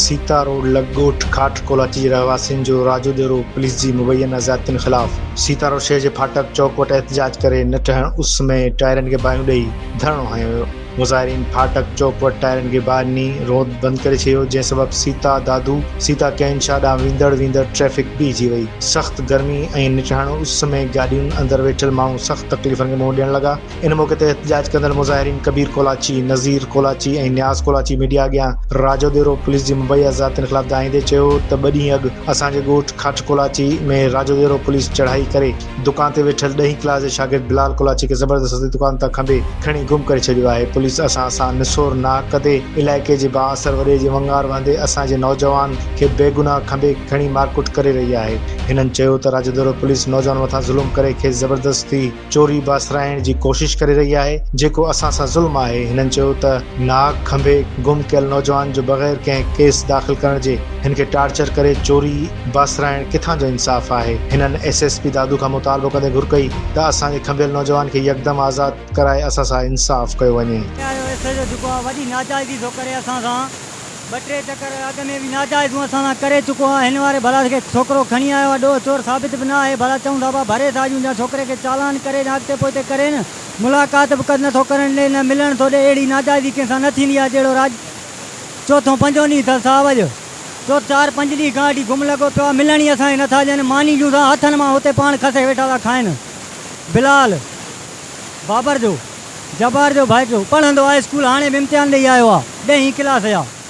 Sita road لڳ ڳوٺ کاٽ ڪولاچي جي رهواسين جو راڄو ڏيرو، پوليس جي مبينا زيادتين خلاف سيتا روڊ شهر جي ڦاٽڪ چوڪ وٽ احتجاج ڪري نه ٽهڻ اس ۾ ٽائرن کي باهيون ڏئي ڌرڻو هنيو ويو. مظاهرين ڦاٽڪ چوڪ وٽ ٽائرن کي ٻاهر نيئي رود بند ڪري ڇڏيو جنهن سبب سيتا دادو سيتا ڪئين شاهه ڏانهن ويندڙ ويندڙ ٽريفڪ بيهجي وئي. سخت گرمي ۽ نٽهڻ اس ۾ گاڏين اندر ويٺل ماڻهو سخت تڪليفن کي منهن ڏيڻ لڳا. ان موقعي تي احتجاج ڪندڙ مظاهرين ڪبير ڪولاچي، نظير ڪولاچي ۽ نياز ڪولاچي ميڊيا اڳيان راجو ديرو پوليس جي مبيا ذاتين خلاف دانهيندي چيو ته ٻه ڏينهن اڳ اسان جي ڳوٺ کاٽ ڪولاچي ۾ راجو ديرو پوليس چڙهائي ڪري دڪان تي ويٺل ڏهين ڪلاس جي شاگرد بلال ڪولاچي کي زبردستي دڪان تان کنڀي کڻي گم ڪري ڇڏيو آهي، پوليس اسان سان نسور ناحق ڪندي علائقي جي بااثر وڏي جي ونگار وهندي اسان جي نوجوان کي بيگناهه کنڀي کڻي مارڪٽ ڪري رهي آهي، هنن چيو ته راڄدورو پوليس نوجوان مٿان ظلم ڪري کيس زبردستي چوري بااثرائڻ جي ڪوشش ڪري رهي آهي، جيڪو اسان سان ظلم آهي، هنن چيو ته ناحق کنڀي گم ڪيل نوجوان جو بغير ڪنهن ڪيس داخل ڪرڻ جي هن کي ٽارچر ڪري چوري. باسرائڻ ڪٿان جو انصاف آهي. هنن ايس ايس پي دادو کان مطالبو ڪندي گهر ڪئي ته اسان جي کنڀيل نوجوان کي يڪدم آزاد ڪرائي اسان سان انصاف ڪيو وڃي. اهو ايس ايڇ او جيڪو آهي وڏي ناجائزي ٿو ڪري اسان سان ٻه ٽي چڪر اڳ ۾ به ناجائزون اسان سان ڪري چڪو آهي هن واري ڀلا کي ڇوڪرو کڻي آيو آهي ڏوهه چور ثابت به نه آهي ڀلا چئون ٿا پيا ڀري ٿا ڏيون جا ڇوڪري کي چالان ڪري جا اڳتي پوئتي ڪري نه ملاقات به نه ٿو ڪرڻ ڏي نه ملڻ ٿو ڏي اهڙي ناجائزي ڪنهن سان نه ٿيندي آهي جهڙو راڄ چوٿون پنجون ڏينهن اٿس صاحب اڄ جو چار پنج ڏينهن کان اڏي گم لڳو پيو آ، ملڻ ئي اسان کي نه ٿا ڏين، ماني ڏيون ٿا هٿن مان اتي پاڻ کسي ويٺا ٿا کائين. بلال، بابر جو، جبار جو ڀائٽيو، پڙهندو آ اسڪول، هاڻي به امتحان ڏئي آيو آ، ڏهين ڪلاس آ.